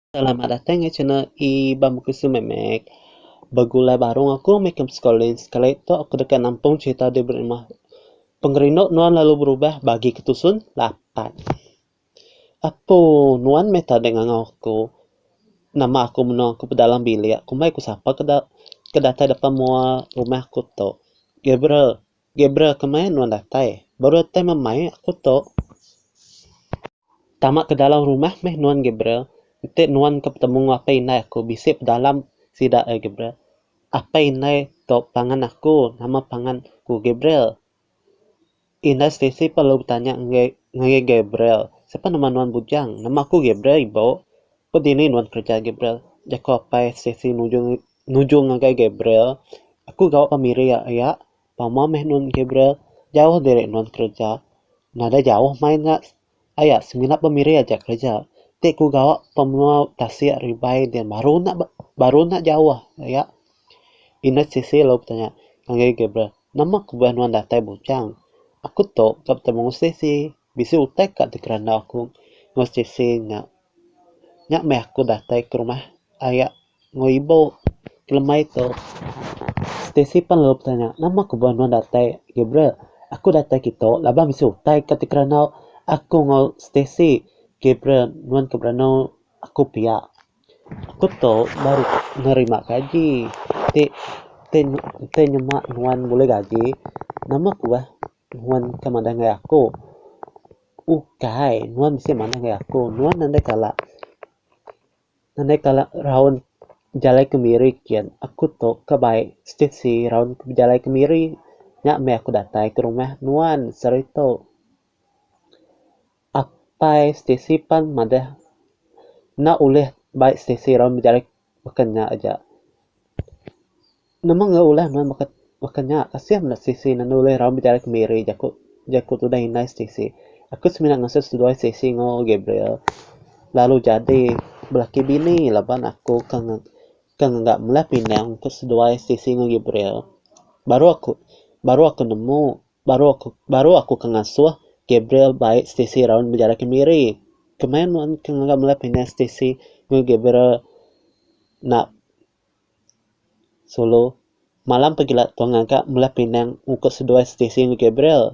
Selamat datang ke channel E ba muka su memek. Begulai baru enggau aku meh ke sekolah sekali tu aku deka nampung cerita di beri rumah. Pengerindu nuan lalu berubah bagi ke tusun lapan. Apo nuan meh tadi ngangau aku. Nama aku menua aku pedalam bilik. Kumbai ku sapa ke ke datai depan mua rumah aku tu. Gabriel. Gabriel kemaya nuan datai. Baru datai memai aku tu. Tama ke dalam rumah meh nuan Gabriel. Enti nuan ke betemu enggau apai indai aku bisi pedalam sida ai Gabriel. Apai indai tu pangan aku nama pangan ku Gabriel. Indai Stacey pun lalu betanya enggai ngagai Gabriel, Siapa nama nuan bujang? Nama aku Gabriel ibu. Ku dini nuan kereja Gabriel? Jaku apai Stacey nuju nujung ngagai Gabriel, aku gawa ka miri iya, pama meh nuan Gabriel jauh diri nuan kereja, nadai jauh main nya aya semina ba miri aja kereja, ti ku gawa pemua tasik ari bai dian baru nya baru nya jauh aya, ina sisi lalu tanya ngagai Gabriel, nama ku bala nuan datai bujang, aku tu ka betemu enggau siti, bisi utai ka ti kerandau aku enggau siti nya, nya meh aku datai ke rumah aya. Enggau ibu kelemai tu, Stacey pan lalu betanya, nama ku beh nuan datai agi bra? Aku datai agi tu laban aku bisi utai ka ti kerandau aku enggau Stacey agi bra nuan ke beranu aku pia. Aku tu baru nerima gaji ti ti ti nyema nuan bulih gaji, nama ku beh nuan ke madah ngagai aku. Ukai nuan bisi madah ngagai aku, nuan enda kala Nadai kala raun bejalai kemiri kian aku tu ka bai stesi raun ku bejalai kemiri nya meh aku datai ke rumah nuan sehari tu. Apai stesi pan madah enda ulih bai stesi raun bejalai baka nya aja. Nama enggau ulah nuan baka baka nya kasih meda Stacey nan ulih raun betara ke Mary jaku jaku tudah indai Stacey. Aku semina ngasuh seduai Stacey enggau Gabriel lalu jadi belaki bini laban aku ke ke ngaga melah pinang ke seduai Stacey enggau Gabriel baru aku baru aku nemu baru aku baru aku ke ngasuh Gabriel bai Stacey raun betara ke Mary. Kemaya nuan ke ngaga melah pinang Stacey enggau Gabriel nak Sulu, malam pegila tua ngaga mleh pinang muka seduai stesen Gabriel.